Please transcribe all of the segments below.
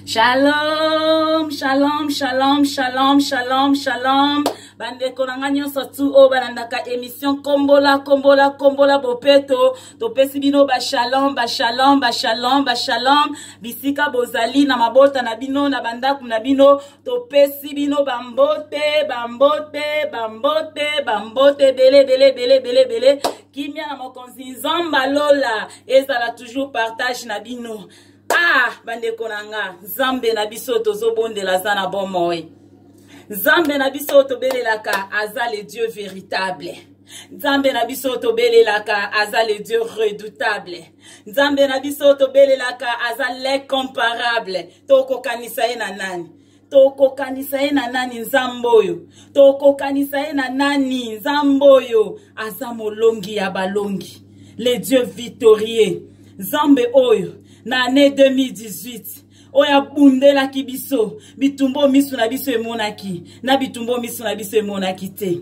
shalom shalom shalom shalom shalom shalom bandeko na ngai nyonso tu oyo balandaka émission kombola kombola kombola bopeto topesi bino bashalom bashalom bashalom bashalom bisika bozali na mabota na bino na bandako na bino topesi bino bambote bambote bambote bambote ebele ebele ebele ebele ebele kimia na mokonzi nzamba lola ezala toujours partage na bino ah bandeko na nga nzambe na biso tozobondela aza na bomoi nzambe na biso tobelelaka aza le dieu véritable nzambe na biso tobelelaka aza le dieu redoutable nzambe na biso tobelelaka aza l'incomparable tokokanisa ye na nani tokokanisa ye na nani nzambe oyo tokokanisa ye na nani nzambe oyo aza molongi ya balongi le dieu victorieux nzambe oyo na année 2018 oyo abundelaki biso bitumbo miso na biso emonaki na bitumbo miso na biso emonaki te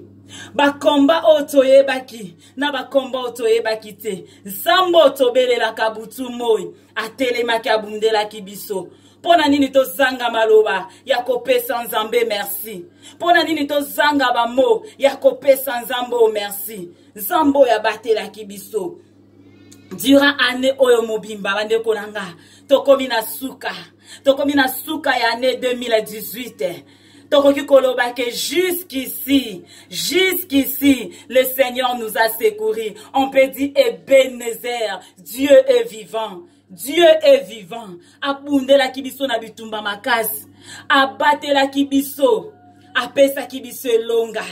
bakomba oyo toyebaki na bakomba oyo toyebaki te nsambo tobelelaka butu moi atelemaki abundelaki biso mpo na nini tozanga maloba ya kopesa nzambe merci mpo na nini tozanga bamo ya kopesa nzambe oyo merci nzambe oyo abatelaki biso durant année oyo mobimba bandeko na nga tokomi na suka tokomi na suka ya année 2018 tokoki koloba ke jusqu'ici jusqu'ici le seigneur nous a secouri on peut dire ebenezer dieu est vivant dieu est vivant abundelaki biso na bitumba makasi abatelaki biso apesaki biso elonga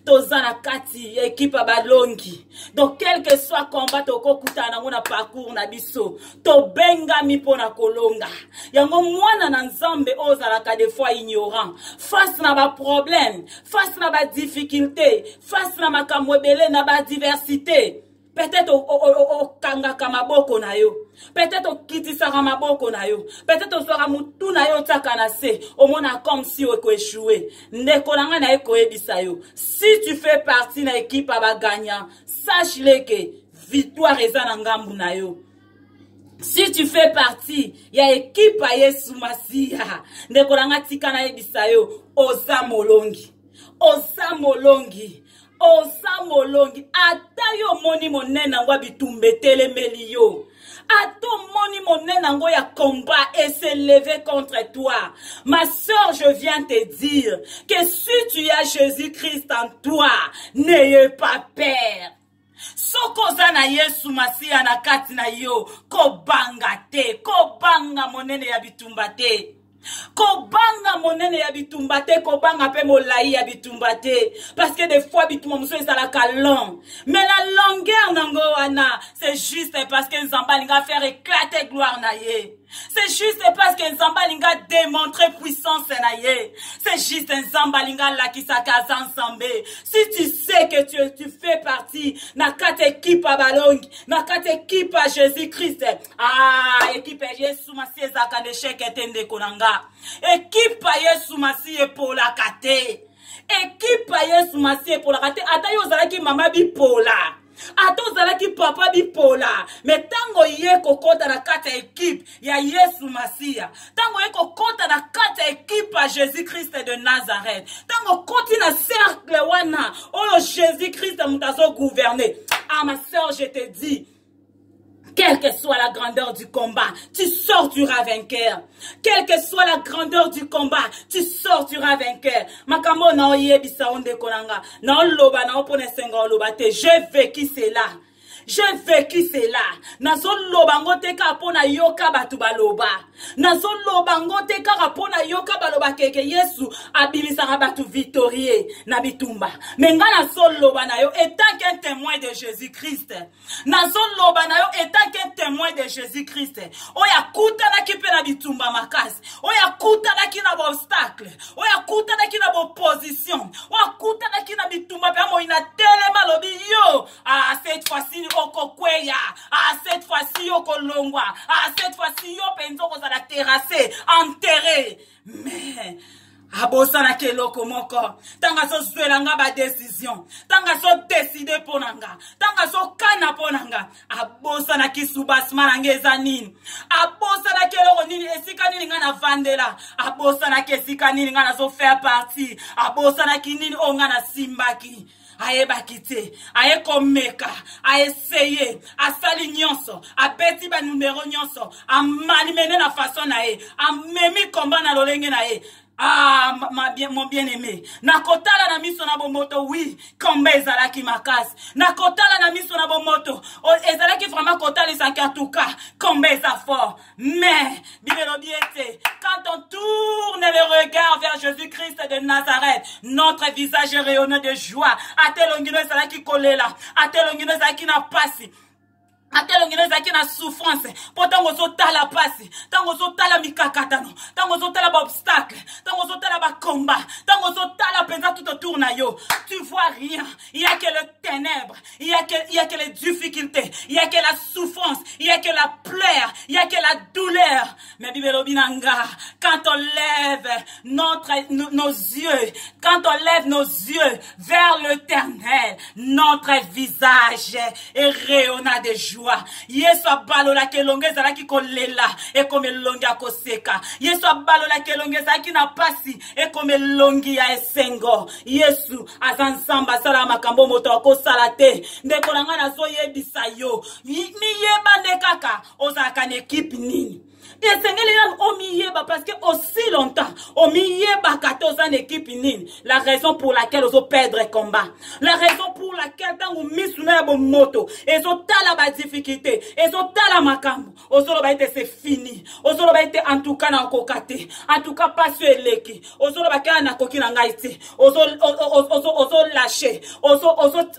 toza na kati ya ekipe ya balongi donc quelque soit combat tokokutana nango na parcours na biso tobengami mpo na kolonga yango mwana na nzambe oyo ozalaka de fois ignorant face na baproblème face na badifficulté face na makambo ebele na badiversité peut-être okangaka maboko na yo peut-être okitisaka maboko na yo peut-être ozwaka motu na yo otiaka na se omona comme si okoechoue ndeko na ngai naye koyebisa yo si tu fais partie na ekipe ya bagagnant sache le ke victoire eza na ngambu na yo si tu fais partie ya ekipe ya yesu masiya ndeko na ngai tika nayebisa yo oza molongi oza molongi oza molongi ata yo omoni monene yango ya bitumba etelemeli yo ata omoni monene yango ya combat et se lever contre toi ma soeur je viens te dire que si tu as jésus christ en toi n'ayez pas peur soki oza na yesu masiya na kati na yo kobanga te kobanga monene ya bitumba te kobanga monene ya bitumba te kobanga mpe molai ya bitumba te parce que des fois bitumba mosusu ezalaka long mais la longueur nango wana c'est juste parce que nzambe alinga faire éclater gloire na ye c'est juste parce que nzambe alinga démontrer puissance na ye c'est juste nzambe alinga alakisaka aza nzambe si tu sais que tu, tu fais partie na kati ekipe ya balongi na kati ekipe ya jésus christ ah ekipe ya yesu masi ezalaka na esheke te ndeko na nga ekipe ya yesu masi epolaka te ekipe ya yesu masi epolaka te ata yo ozalaki mama bipola ata ozalaki papa bipola me ntango ye kokɔta na kati ya ekipe ya yesu masiya ntango ye kokɔta na kati ya ekipe ya jésus krist de nazareth ntango okoti na cercle wana oyo jésus krist moto azogouverne ah ma sœur je te dis Quelle que soit la grandeur du combat, tu sortiras vainqueur. Quelle que soit la grandeur du combat, tu sortiras vainqueur. Makambo na oyebisa onde konanga, na oloba na opone senga oloba te. J'ai vécu cela. J'ai vécu cela. Na zoloba ngo te ka pona yoka batu baloba. nazoloba ngo te kaka mpo nayoka baloba keke yesu abimisaka bato victorie na bitumba me nga nazoloba na yo etant qu'un témoin de jésus christ nazoloba na yo etant qu'un témoin de jésus christ oyo akutanaki mpe na bitumba makasi oyo akutanaki na baobstacle oyo akutanaki na baopposition oyo akutanaki na bitumba mpe amoi na telema alobi yo ah, cette fois-ci okokweya ah cette fois-ci yo kolongwa ah cette fois-ci yo mpenza okozala terrasse enterre mais abosanaki eloko moko ntango azozwela nga badesizio ntango azodeside mpo na nga ntango azokana mpo na nga abosanaki subasma na nga eza nini abosanaki eloko nini esika nini ngai navandela abosanaki esika nini ngai nazofaire parti abosanaki nini oyo ngai nasimbaki ayebaki te aye komeka aeseye asali nyonso abeti banumero nyonso amanimene na faso na ye amemi komba na lolenge na ye Ah, ma, bien, mon bien-aimé, nakotala na miso na bomoto, oui, kombe ezalaki makasi. Nakotala na miso na bomoto, ezalaki vraiment kotalisa que en tout cas, kombe eza fort. Mais, quand on tourne le regard vers Jésus-Christ de Nazareth, notre visage est rayonné de joie. Atelongino ezalaki kolela, atelongino ezalaki na pasi. atelongino ezalaki na souffrance mpo ntango ozotala mpasi ntango ozotala mikakatano ntango ozotala baobstacle ntango ozotala bakomba ntango ozotala mpenza tout autour na yo tu vois rien ya que le ténèbre Il n'y a, que, il y a que les difficultés, il n'y a que la souffrance, il n'y a que la pleure, il n'y a que la douleur. Mais Bibelo Binanga, quand on lève notre, nos, nos yeux, quand on lève nos yeux vers l'éternel, notre visage est rayonna de joie. Yesu abalola kelonge ezalaki kolela ekomi elongi akoseka. Yesu abalola kelonge ezalaki na pasi ekoma elongi ya esengo yesu aza nzambe asala makambo moto akosala te ndeko na ngai nazoyebisa yo miyeba nde kaka ozalaka na ekipe nini esengeli nanu omiyeba parce que aussi longtemps omiyebaka te oza na ekipe nini la raison pour laquelle ozo perdre combat la raison pour laquelle ntango misu na ya bomoto ezotala badifficulté ezotala makambo ozoloba ete se fini ozoloba ete antuka nakoka te antuka mpasi oyo eleki ozoloba kaka nakoki na ngai te ozolashe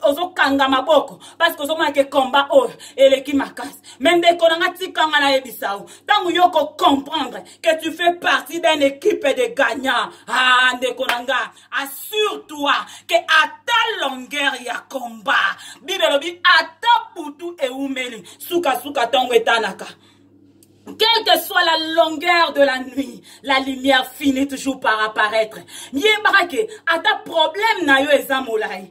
ozokanga maboko parceke ozomona ke komba oyo eleki makasi me ndeko na ngai tikanga nayebisa o ntango yo kocomprendre ke tu fais partie d'un équipe de gagnant a ah, ndeko na ngai assure-toi ke ata longueur ya combat bible elobi ata butu eumeli sukasuka ntongo etanaka Quelle que soit la longueur de la nuit, la lumière finit toujours par apparaître. Yebaka ke ata problème na yo eza molai.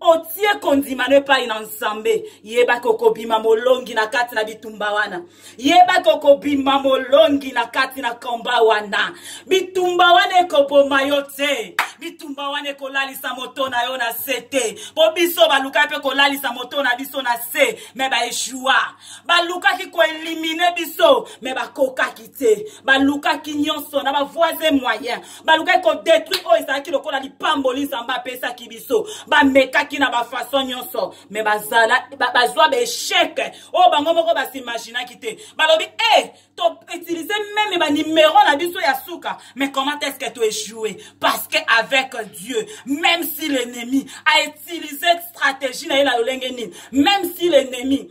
otie kondimano epai na nzambe yebaki okobima molongi na kati na bitumba wana yebaki okobima molongi na kati na komba wana bitumba wana ekoboma yo te bitumba wana ekolalisa moto na yo na se te mpo biso balukaki mpe kolalisa moto na biso na se me baeshua balukaki koelimine biso me bakokaki te balukaki nyonso na bavoise moyen balukaki kodetruire oyo ezalaki lokola lipamboli nzambe apesaki biso bamekaki na bafason nyonso me bazwa baechec oyo bango moko basimaginaki te balobi e eh, toutilize meme banimero na biso ya suka mais comment est ce que toechoue parce que avec dieu même si l'ennemi a utilisé stratégie na ye na lolenge nini même si l'ennemi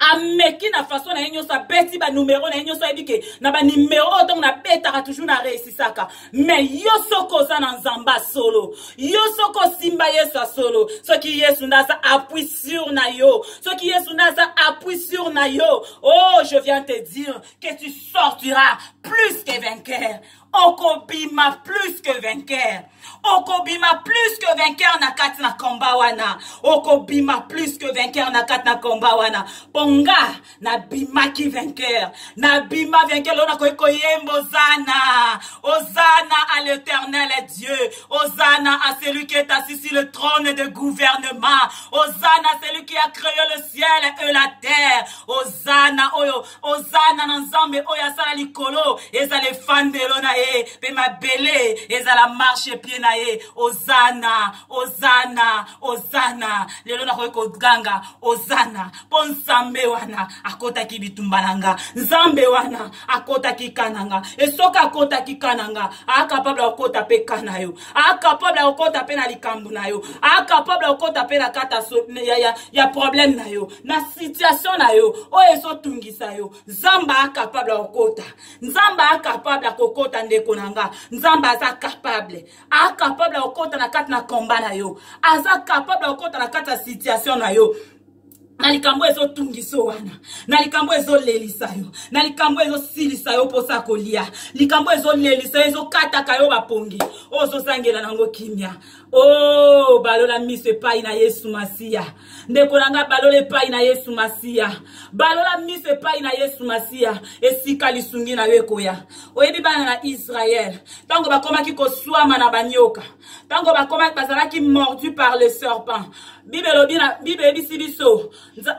ameki na façon na ye nyonso abeti banumero na ye nyonso ayebi ke na banimero oyo ntango nabetaka toujours na reisisaka mais yo soki oza na nzambe ya solo yo soki osimba yesu ya solo soki yesu nde aza appui sur na yo soki yesu nde aza appui sur na yo oh je viens te dire que tu sortiras plus que vainqueur okobima plus que vainqueur okobima plus que vainqueur na kati na komba wana okobima plus que vainqueur na kati na komba wana mpo nga nabimaki vainqueur nabima vainqueur loo nakoki koyemba ozana ozana à l'éternel dieu ozana à celui qui est assis sur le trône de gouvernement ozana celui qui a créé le ciel et la terre ozana oyo ozana na nzambe oyo asala likolo ezala efandelo na ye mpe mabele ezala marshe pie na ye ozana ozana ozana lelo nakoki koganga ozana mpo nzambe wana akotaki bitumba na nga nzambe wana akotaki kana nga esoki akotaki kana nga akapable akokota mpe kana yo akapable akokota mpe na likambo na yo akapable akokota mpe na kata ya, ya, ya problème na yo na situation na yo oyo ezotungisa yo nzambe acapable ya kokota nzambe acapable ya kokota ndeko na nga nzambe aza capable acapable ya kokota na kati na komba na yo aza capable ya kokota na kati ya situation na yo na likambo ezotungisa wana na likambo ezolelisa yo na likambo ezosilisa yo mposa ya kolia likambo ezolelisa yo ezokataka yo bapongi oyo ozozangela nango kimia o oh, balola miso epai na yesu masiya ndeko na ngai balola epai na yesu masiya balola miso epai na yesu masiya esika lisungi na yo ekoya oyebi bana na israele ntango bakomaki koswama na banyoka ntango bakomaki bazalaki mordu par le serpent bible elobi na bible eyebisi biso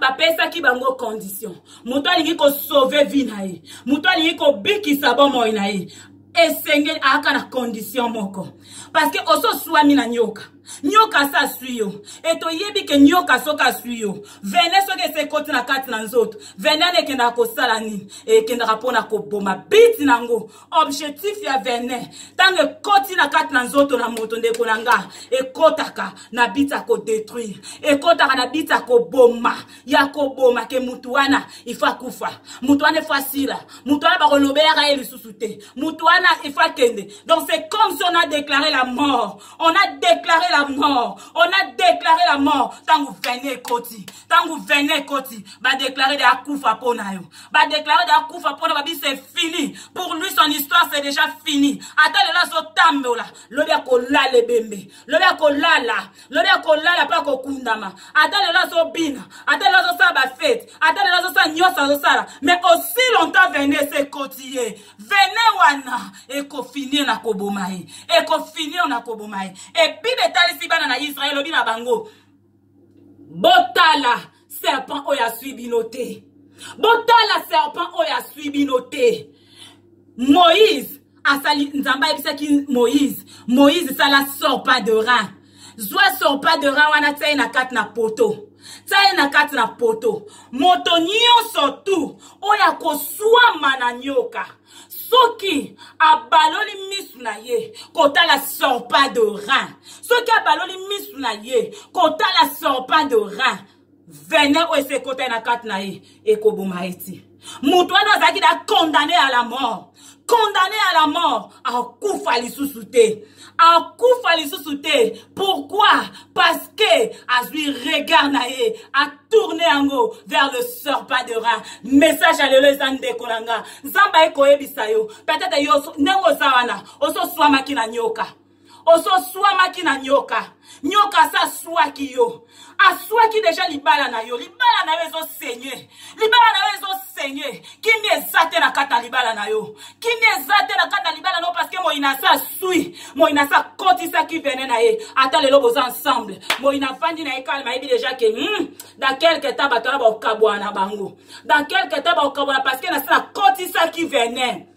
bapesaki bango condition moto alingi kosauve vi na ye moto alingi kobikisa bomoi na ye esengeli ayaka na condition moko parceke ososwami na nyoka nyoka asi aswi yo e toyebi ke nyoka soki aswi yo vene soki esi ekoti na kati na nzoto vene ana ekendaka kosala nini ekendaka mpo na koboma biti na yango objectif ya vene ntango ekoti na kati na nzoto na moto ndeko na nga ekotaka na biti ya kodetruire ekotaka na biti ya koboma ya koboma ke mutu wana ifo akufa mutu wana ifo asila mutu wana bakolobelaka ye lisusu te mutu wana ifo akende donc c'est comme si on a déclaré la mort on a déclaré la mort on a déclaré la mort ntango vene ekoti ntango vene ekoti badéclare de akufa mpo na yo badéclare de akufa mpo na babi c'est fini pour lui son histoire c'est déjà fini ata lelo azotambola lobi akolala ebembe lobi akolala lobi akolala mpe akokundama ata lelo azobina ata lelo azosala bafete ata lelo azosala nyonso azosala mais aussi longtemps venese ekoti ye vene wana ekofinir na koboma ye ekofinir na koboma ye ebible etalisi bana na israel lobi na bango botala serpent oyo aswi bino te botala serpent oyo aswi bino te moïse asali nzambe ayebisaki moïse moïse sala sorpa de rein zwa sorpa de rein wana tia ye na kati na poto tia ye na kati na poto moto nyonso tu oyo akoswama na nyoka soki abaloli misu na ye kotala sorpa de rein soki abaloli misu na ye kotala sorpa de rein vene oyo esi ekota ye na kati na ye ekoboma ye ti moto wana azalaki na condamne à la mort condamne à la mort akufa lisusu te akufa lisusu te pourquoi parce que azwi regard na ye tourne yango vers le serpent de rein message ya lelo eza ndeko na nga nzambe aye koyebisa yo peut-être yo ndenge oza wana ososwamaki na nyoka ososwamaki na nyoka nyoka asa aswaki yo aswaki deja libala na yo libala na yo ezosenye libala na yo ezosenye kimia eza te na kati ya libala na yo kimia eza te na kati ya libala na yo parceke moyina asi aswi moyina asi akotisaki vene na ye ata lelo boza ensemble moyina afandi na ye kalma ayebi deja ke hmm, dans quelque temps bato wana bakokabwana bango dans quelque temps bakokabwana parceke nasi nakotisaki vene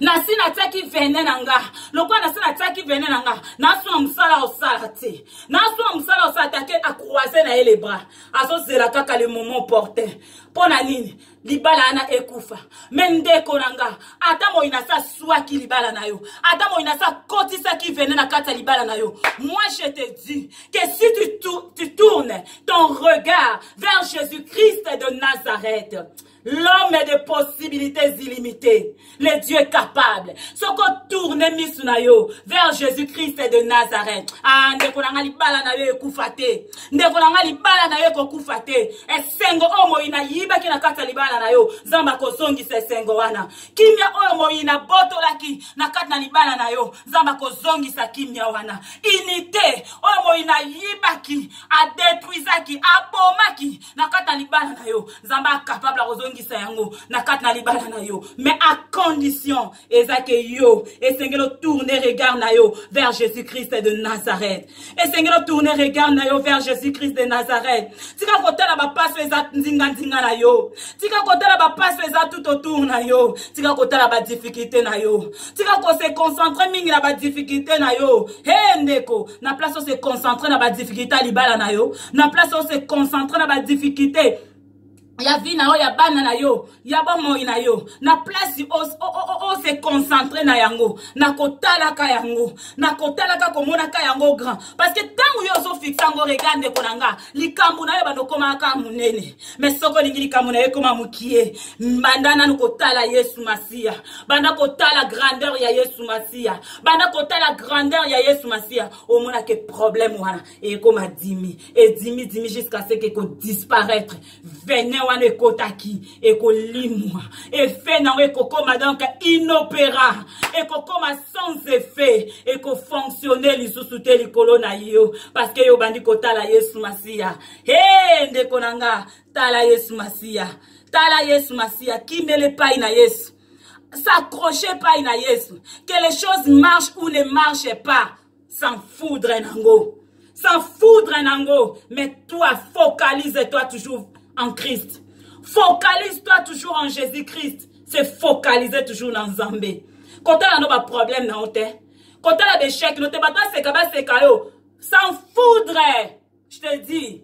nasi natiaki vene na nga lokola nasi natiaki vene na nga nasuna mosala osala te nasuna mosala osala te ake acroise na ye le bras azozela kaka le moment opportun mpo na nini libala wana ekufa me ndeko na nga ata moi nasi aswaki libala na yo ata moi nasi akotisaki vene na kati ya libala na yo moi je te dis que si tu, tu, tu tournes ton regard vers jésus christ de nazareth L'homme est de possibilités illimitées. Le Dieu est capable. Soko tourne misu na yo vers Jésus-Christ de Nazareth. Ah, ndeko na nga libala na yo ekufa te. Ndeko na nga libala na yo ekokufa te. Esengo oyo moyi na yibaki na kati ya libala na yo. Nzambe akozongisa esengo wana. Kimia oyo moyi na botolaki na kati na libala na yo. Nzambe akozongisa kimia wana. Unité oyo moyi na yibaki, adetruisaki, abomaki. na kati na libala na yo nzambe acapable akozongisa yango na kati na libala na yo mais à condition eza ke yo esengeli otourne regard na yo vers jésus christ de nazareth esengeli otourne regard na yo vers jésus christ de nazareth tika kotala bapaso eza nzinganzinga na yo tika kotala bapaso eza tout autour na yo tika kotala badifficulté na yo tika kose concentre mingi na badifficulté na yo he ndeko na place ose concentre na badifficulté ya libala na yo na place ose concentre na badifficulté ya vie na yo ya bana na yo ya bomoi na yo na place ose concentre na yango na kotalaka yango na kotalaka komonaka yango grand parce que ntango yo ozofixe yango rega ndeko na nga likambo na yo bandokomaka monene mais soki olingi likambo na yo ekoma mokie banda nanu kotala yesu masiya banda kotala grandeur ya yesu masiya banda kotala grandeur ya yesu masiya omonake problème wana ekoma dimi edimi dimi jusqu'à ce que ekodisparaître venin wana ekotaki ekolimwa effet nango ekokoma donc inopéra ekokoma sans effet ekofonctionne lisusu te likolo na yo parce que yo obandi kotala yesu masiya he ndeko na nga tala yesu masiya tala yesu masiya kimela epai na yesu s'accrocher epai na yesu que les choses marchent ou ne marchent pas sans foudre nango sans foudre nango mais toi focalise toi toujours en christ focalise toi toujours en jésus christ se focalise toujours na nzambe kotala no baproblème na yo te kotala bechec no te bato baseka baseka yo sans foudre je te dis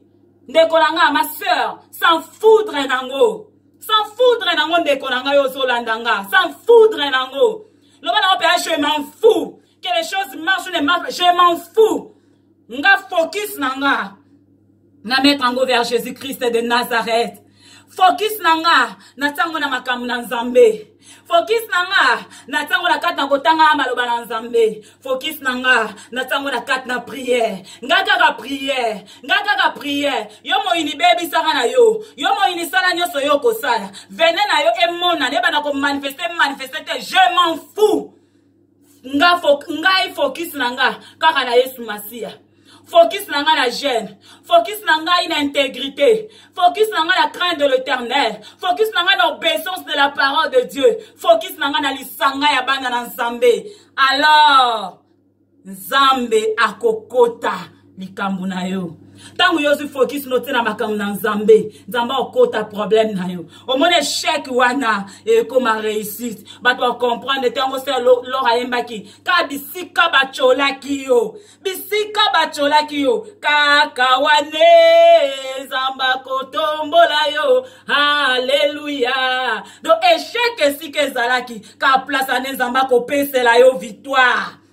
ndeko na nga ma sœur sans foudre nango sans foudre nango ndeko na ngai ozolanda nga sans foudre nango loba nango mpenza je m'en fou que les choses marchent ne marchent je m'en fou nga focus na nga na mettre yango vers jésus christ de nazareth fokis na nga na ntango na makambo na nzambe fokis na nga na ntango na kati na kotanga maloba na nzambe fokis na nga na ntango na kati na priere nga kaka priere nga kaka priere yo moyini bebisaka na yo yo moyini sala nyonso yo okosala vene na yo emonana ebanda komanifeste manifeste te je m'en fous nga fo, ngai focus na nga kaka na yesu masiya focus na ngai na jeune focus na ngai na intégrité focus na ngai na crainte de l'éternel focus na ngai na obéissance de la parole de dieu focus na ngai na lisanga ya bana na nzambe alors nzambe akokota likambo na yo ntango yo ozwi fokis notie na makambo na nzambe nzambe akota problème na yo omoni echec wana ekoma réussite bato bacomprendre te yango se lor ayembaki ka bisika bacolaki yo bisika bacolaki yo kaka wane nzambe akotombola yo aleluya do echec esika ezalaki ka place ane nzambe akopesela yo victoire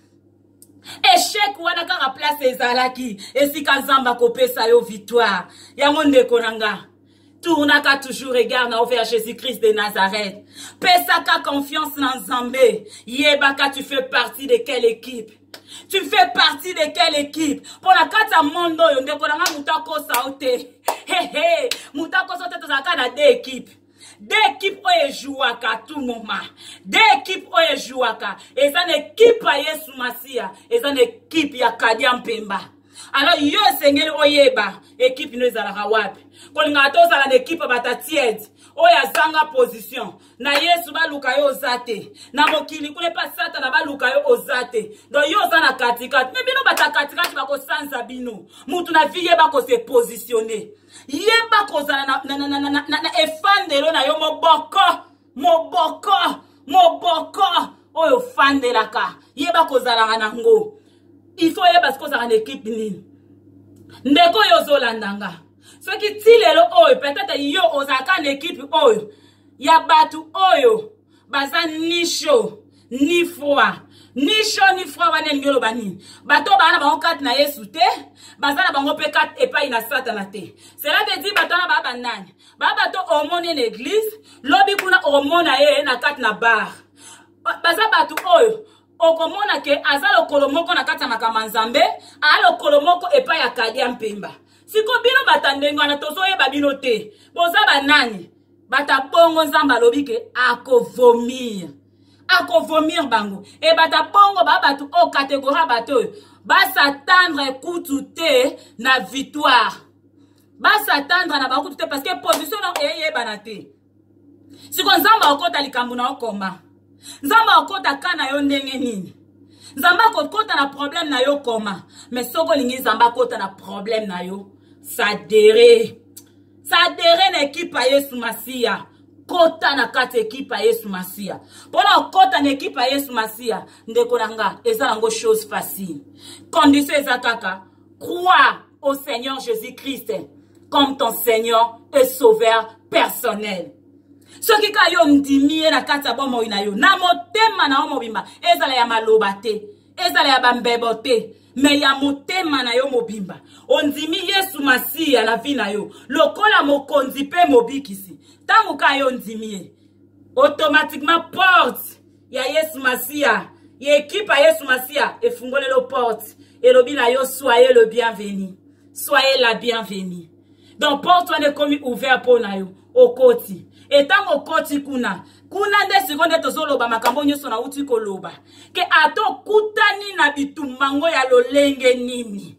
echec wana kaka place ezalaki esika nzambe akopesa yo victoire yango ndeko na nga tournaka toujours regard na vers jésus christ de nazareth pesaka confiance na nzambe yebaka tu fais partie de quelle équipe tu fais partie de quelle équipe mpo na kati ya monde oyo ndeko na nga moto akosa yo te hehe moto akosa yo te tozalaka na de équipe de ekipe oyo ejouaka tout moment de ekipe oyo ejouaka eza na ekipe ya yesu masiya eza na ekipe ya kadia mpemba alors yo esengeli oyeba ekipe no ezalaka wapi kolingaka te ozala na ekipe ya batatiede oyo azanga position na yesu baluka yo oza te na mokili kuna epa satana baluka yo oza te don yo oza na katikati me bino bata katikati bakosanza bino motu na vie ye bakose positionne yeba kozala na, na, na, na, na, na, na efandelo na yo moboko moboko moboko oyo ofandelaka yeba kozalaka na ngo il faut oyeba sikoyo ozalaka na ekipe nini ndeko oyo ozolanda nga soki ti lelo oyo peut-être yo ozalaka na ekipe oyo ya bato oyo baza ni chaud ni froid ni chaud ni froid wana elingi oloba nini bato oyo baa na bango karte na yesu te baza na bango mpe karte epai na satana te cela veut dire bato wana baa banani baa bato omoni na eglise lobi kuna omona ye na karte na bar baza bato oyo okomona ke aza lokolo moko na kati ya makambo ya nzambe aa lokolo moko epai ya kadia mpemba siko bino bata ndenge wana tozoyeba bino te boza banani bata bongo nzambe alobi ke akovomir akovomir bango e bata bongo ba bato oyo oh, kategori ya bato oyo basatandre kutu te na victoire basatandre na bakutu te parce que position na eyebana eh, te siko nzambe akokota likambo na okoma nzambe akokota ka na yo ndenge nini nzambe akokota na problème na yo koma mais soki olingi nzambe akota na problème na yo sadere sadere na ekipe ya yesu masiya kota na kati ekipe ya yesu masiya mpo na okota na ekipe ya yesu masiya ndeko na nga eza nango chose facile condition eza kaka croire au seigneur jésus christ comme ton seigneur et sauveur personnel soki kaka yo ondimi ye na kati ya bomoi na yo na motema na yo mobimba ezala ya maloba te ezala ya bambebo te me ya motema na yo mobimba ondimi yesu masiya na vi na yo lokola mokonzi mpe mobikisi ntango ka yo ondimi ye automatiquement porte ya yesu masiya ya ekipe ya yesu masiya efungolelo porte elobi na yo soye le bienvenu soye la bienvenu donc porte wana ekomi ouvert mpo na yo okoti etango okoti kuna kuna nde sikoyo nde tozoloba makambo nyonso nauti koloba ke ata okutani na bitumba ngo ya lolenge nini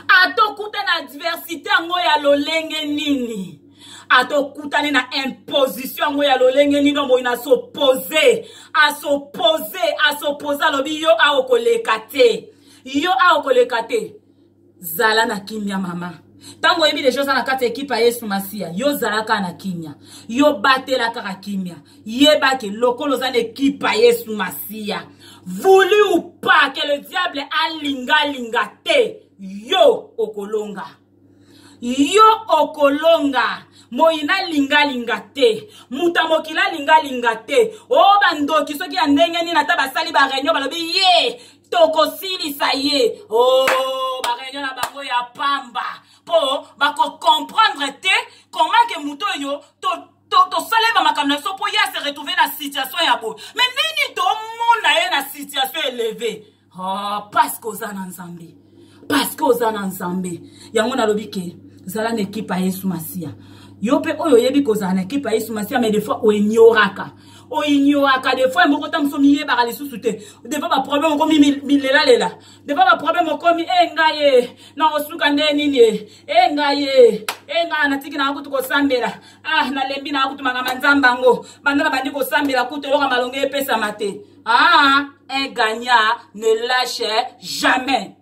ata okuta na adversite yango ya lolenge nini ata okutani na imposition yango ya lolenge nini omoi na s'oppose as'oppose as'oppose alobi yo aokoleka te yo aokoleka te zala na kimia mama ntango oyebi deja oza na kati ya ekipe ya yesu masiya yo zalaka na kimia yo batela kaka kimia yeba ke lokola oza na ekipe ya yesu masiya voulu ou pas ke le diable alinga alinga te yo okolonga yo okolonga moyina alingalinga te moto ya mokili alingalinga te o oh, bandoki soki ya ndenge nini ata basali bareunion balobi ye tokosilisa ye oh, bareunion na bango ya pamba mpo bakocomprendre te comment ke moto oyo tosalema to, makambo na biso mpo ye ase retrouve na situation ya boye me nini tomona ye na situation eleve oh, ah, paske oza na nzambe paske oza na nzambe yango nalobi ke zala na ekipe ya yesu masiya yo mpe oyo oyebi kozala na ekipe ya yesu masiya me defois oenyoraka oignoraka de fois moko ta mosusu miyebaka lisusu te depa baproblème okomi milelalela depa baproblème okomi e eh, ngai ye eh, na osuka nde nini ye eh, e ngai ye e ngai natiki nanga kutu kosambela ah nalembi nanga kutu makama nzambe yango banda na bandi kosambela kutu eloko malongi epesama te ah un gagnant ne lâche jamais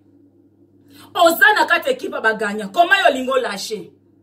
oza na kati ekipe bagagna koma yo olingi olashe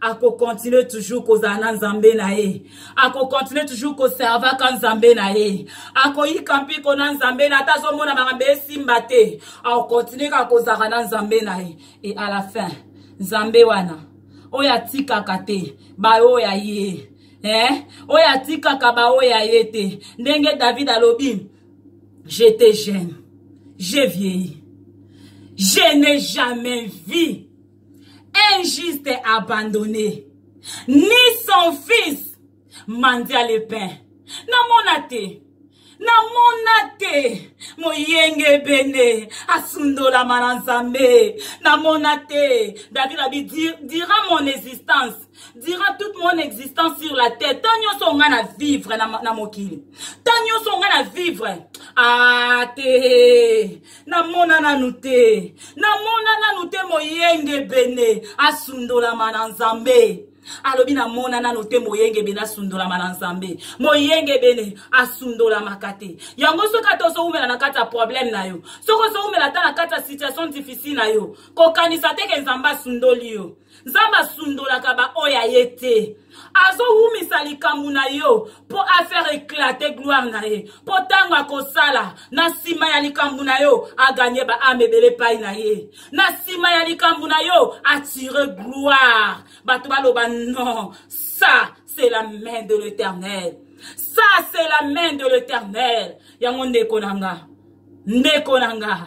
akokontinue toujours kozala na nzambe na ye akokontinue toujours koservaka nzambe na ye akoyika mpiko na nzambe na ata azomona makambo esimba te akokontinue kaka kozalaka na nzambe na ye e à la fin nzambe wana oyo atikaka te baoyo ya ye eh? oyo atikaka baoyo ya ye te ndenge david alobi j'étais jeune j'ai vieilli je n'ai jamais vu un juste abandonné ni son fils mandia le pain namona te namona te moyenge ebende asundolama na nzambe namona te david abi dira mon existence dira toute mon existence sur la terre ntan nyonso nga na vivre na, na mokili ntan nyonso nga na vivre ate ah, namona nanu te namona nanu te moyenge bene asundolama na nzambe alobi namona nano te moyengebene asundolama na nzambe moyengebene asundolamaka te yango soki ata ozowumela na kati ya problème na yo soki ozowumela ata na kati ya situation difficile na yo kokanisa te ke nzambe asundoli yo nzambe asundolaka baoyo aye te azowumisa likambo na yo mpo affaire eklate gloire na ye mpo ntango akosala na nsima ya likambo na yo aganye baame ebele epai na ye na nsima ya likambo na yo atire gloire bato baloba non ça c'est la main de l'éternel ça c'est la main de l'éternel yango ndeko na nga ndeko na nga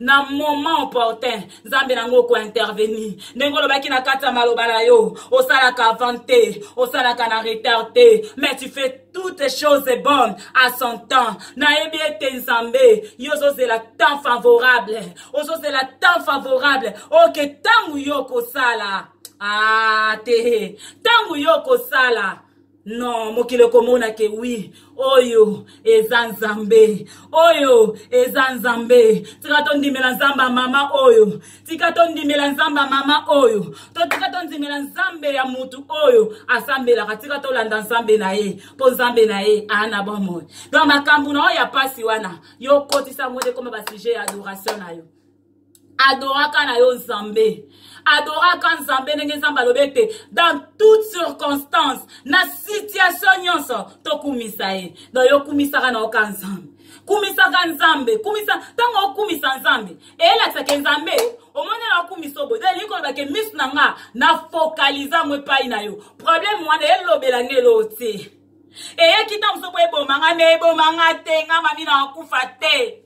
na moment opportun nzambe na yango okointervenir ndenge olobaki na kati ya maloba na yo osalaka avant te osalaka na retard te mais tu fais toutes choses bonnes à son temps nayebi ete nzambe yo ozozela temps favorable ozozela temps favorable oke ntango yo okosala ah te ntango yo okosala non mokili ekomona ke wi oyo eza nzambe oyo eza nzambe tika tondimela nzambe ya mama oyo tika tondimela nzambe ya mama oyo to tika tondimela nzambe ya motu oyo asambelaka tika tolanda nzambe na ye mpo nzambe na ye aa na bomoi don makambo na oyo ya mpasi wana yo okotisa yango nde ekoma basuje ya adoration na yo adoraka na yo nzambe adoraka nzambe ndenge nzambe alobi ete dans toute circonstance na situation nyonso tokumisa ye donc yo okumisaka na yoka nzambe kumisaka nzambe kumisa ntango okumisa nzambe eyelakisaka nzambe omoni na okumisa oboye donc elingi koloba ke miso na nga na fokalize yango epai na yo problème wana elobela nge eloo te eyaki ntango mosusu po eboma nga me eboma nga te nga mami na akufa te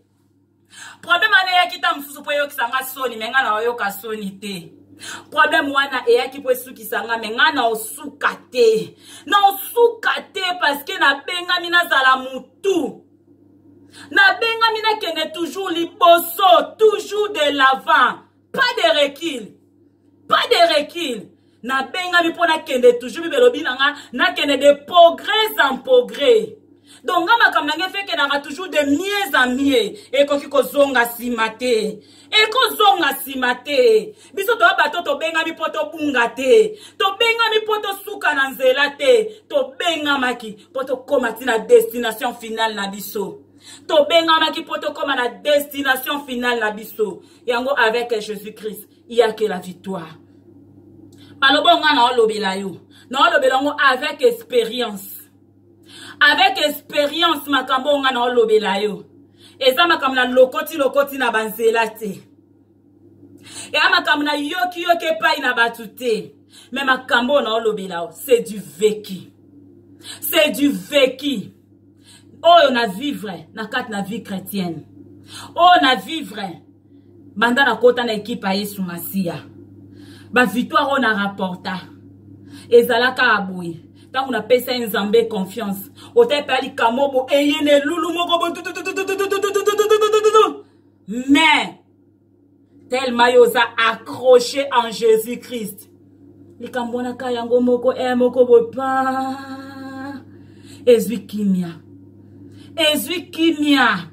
problème wana eyaki ntango mosusu mpo eyokisa nga soni me nga na oyoka soni te problème wana eyaki mpo esukisa nga me nga na osuka te na osuka te parceke nabengami nazala motu nabengami nakende toujours liboso toujours de l'avant pas de recul pas de recul nabengami mpo nakende toujours bibelobi na nga nakende de progrès en progrès donc nga makambo na ngai efekelaka toujours de mieux en mieux ekoki kozonga nsima te ekozonga nsima te biso toya bato tobengami mpo tobunga te tobengami mpo tosuka na nzela te tobengamaki mpo tokóma ti na destination finale na biso tobengamaki mpo tokóma na destination finale na biso yango avec jésus christ iyake la victoire maloba onga naolobela yo naolobela yango avec expérience avec expérience makambo onga naolobela yo eza makambo na lokoti lokoti na banzela te eya makambo na yoki yoki epai na bato te me makambo oyo naolobela yo c'est du vécu c'est du vécu oyo na vivre na kati na vie chrétienne oyo na vivre banda nakota na ekipe ya yesu masiya bavictoire oyo na rapporta ezalaka ya boye ntango napesi ye nzambe confiance otali mpe alikamo bo eye na elulu moko bo mais tellement yo oza accroché en jésus christ likambo wana ka yango moko e eh, moko boye pa ezwi kimia ezwi kimia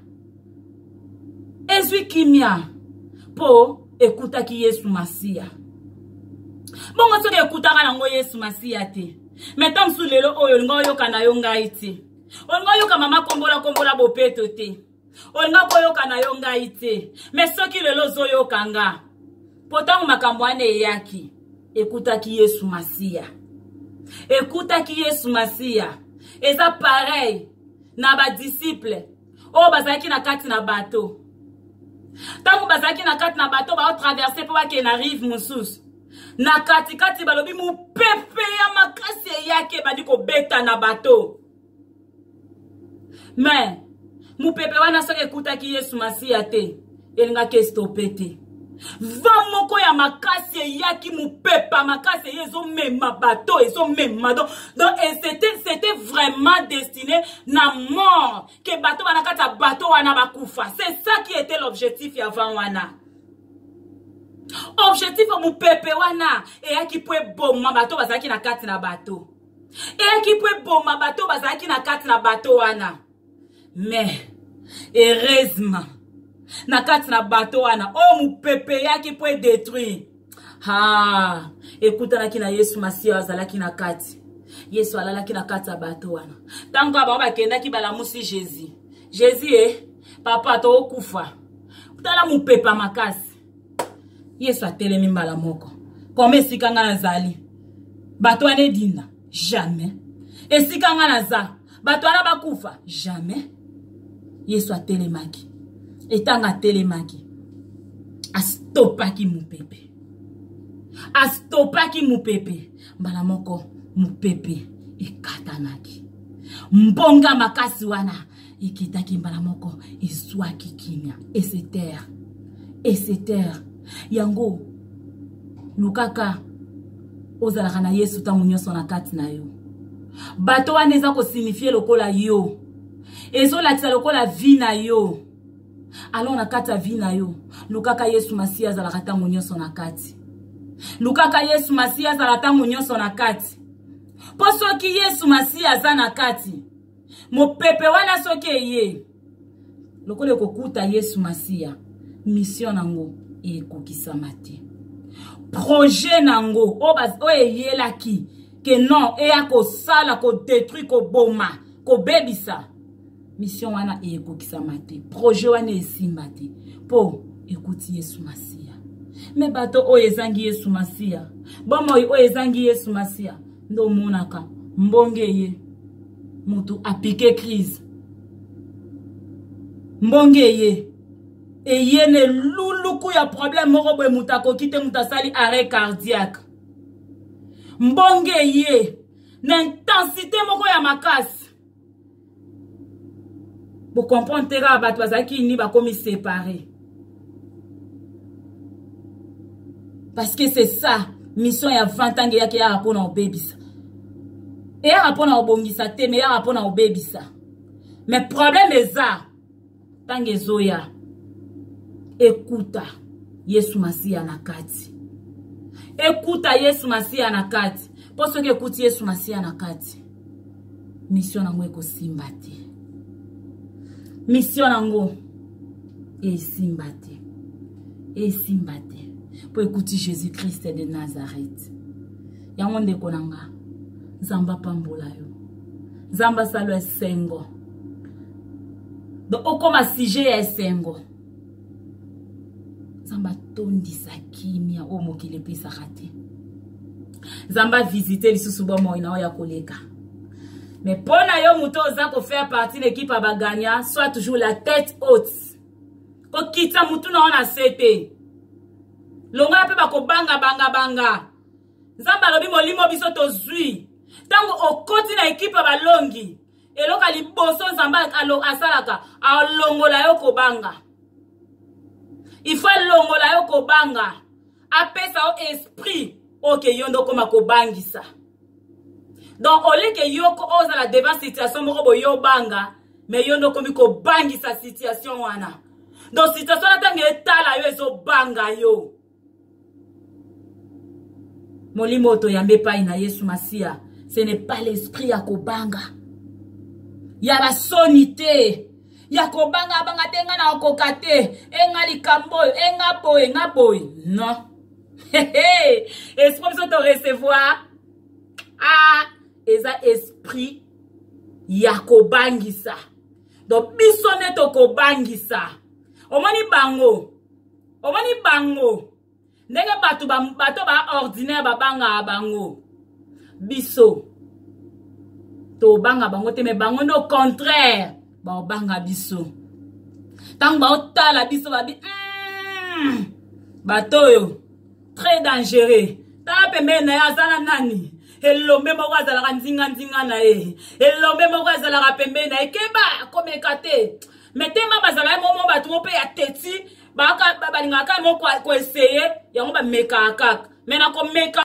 ezwi kimia mpo ekutaki yesu masiya bongo soki ekutaka yango yesu masiya te me ntan mosusu lelo oyo olinga oyoka na yo ngai te olinga oyoka mama kombola kombola bopeto te olingaki koyoka na yo ngai te me soki lelo ozoyoka nga mpo ntango makambo wana eyaki ekutaki yesu masiya ekutaki yesu masiya eza parei na badisiple oyo bazalaki na kati na bato ntango bazalaki na kati na bato baotraverse mpo bakee na rive mosusu na katikati balobi mopepe ya makasi eyaki ebandi kobeta na bato mais mopepe wana soki ekutaki yesu masiya te elingaki estope te va moko ya makasi eyaki mopepa makasi eye ezomema bato ezomema do donc c'était vraiment destiné na mort ke bato wana kati ya bato wana bakufa c'est ça qui était l'objectif ya van wana objectif ya mopepe wana eyaki mpo eboma bato bazalaki na kati na bato eyaki mpo eboma bato bazalaki na kati na bato wana mais heureusement na kati na bato wana oyo oh, mopepe eyaki mpo edetruire ha ekutanaki na yesu masiya oyo azalaki na kati yesu alalaki na kati ya bato wana ntango kaka bango bakendaki balamusi jésus jésus e papa tokokufa tala mopepa makasi yesu atelemi mbala moko koma esika ngai nazali bato wana edinda jamais esika ngai naza bato wana bakufa jamais yesu atelemaki etanga atelemaki astopaki mopepe astopaki mopepe mbala moko mopepe ekatanaki mbonga makasi wana ekitaki mbala moko ezwaki kimia esetere esetere yango lukaka ozalaka na yesu ntango nyonso na kati na yo bato wana eza kosinifie lokola yo ezolakisa lokola vi na yo alors na kati ya vi na yo lukaka yesu masiya azalaka ntango nyonso na kati lukaka yesu masiya azala ntango nyonso na kati mpo soki yesu masiya aza na kati mopepe wana soki eye lokola ekokuta yesu masiya misio na yango ekokisama te projet na yango oyo eyelaki ke non eya kosala kodetruire koboma kobebisa mission wana ekokisama te projet wana esimba te mpo ekuti yesu masiya me bato oyo ezangi yesu masiya bomoi oyo ezangi yesu masiya nde omonaka mbonge ye motu apike crise mbonge ye eye na eluluku ya problème moko boye moto akoki te moto asali arrêt cardiaque mbonge ye na intensité moko ya makasi bocomprendre te kaka bato bazalaki ni bakomi séparé parce que c'est ça mission ya vent ntango eyaki eyaka mpo na kobebisa eyaka mpo na kobongisa te me eyaka mpo na kobebisa me problème eza ntango ezoya ekuta yesu masiya na kati ekuta yesu masiya na kati mpo soki ekuti yesu masiya na kati misio na yango ekosimba te misio na yango esimba te esimba te mpo ekuti jésus krist de nazareth yango ndeko na nga nzambe apambola yo nzambe asala esengo donc okoma sujet ya esengo nzambe atondisa kimia oyo mokili epesaka te nzambe avisite lisusu bomoi na oyo ya koleka mais mpo na yo moto oza kofaire partie na ekipe ya bagagna soit toujours la tête haute kokitisa motu na yo na se te longola mpe bakobanga banga banga nzambe alobi molimo biso tozwi ntango okoti na ekipe ya balongi eloko ya liboso nzambe asalaka alongola yo kobanga ifo alongola yo kobanga apesa yo esprit oke yo nde okoma kobangisa donc oleke yoko ozala devant situation moko boye obanga me yo nde okomi kobangisa situation wana donc situation na ntango etala yo ezobanga yo molimo oyo toyambi epai na yesu masiya ce n'est pas l'esprit ya kobanga ya basoni te ya kobanga abanga te ngai na okoka te enga likambo oyo enga boye nga boye non esprit biso torecevoir ah eza esprit ya kobangisa donc biso nde tokobangisa omoni bango omoni bango ndenge bato bato baordinaire babangaka bango biso tobanga bango te me bango nde au contraire baobanga biso ntango baotala biso babi mm, bato oyo très dangereux tala pembeni na ye aza na nani elombe moko azalaka nzinganzinga na ye elombe moko azalaka pembeni na ye keba komeka te me tema bazalaki momo bato mo mpe ya teti balingaka kaka mo koeseye yango bamekaka kaka me na komeka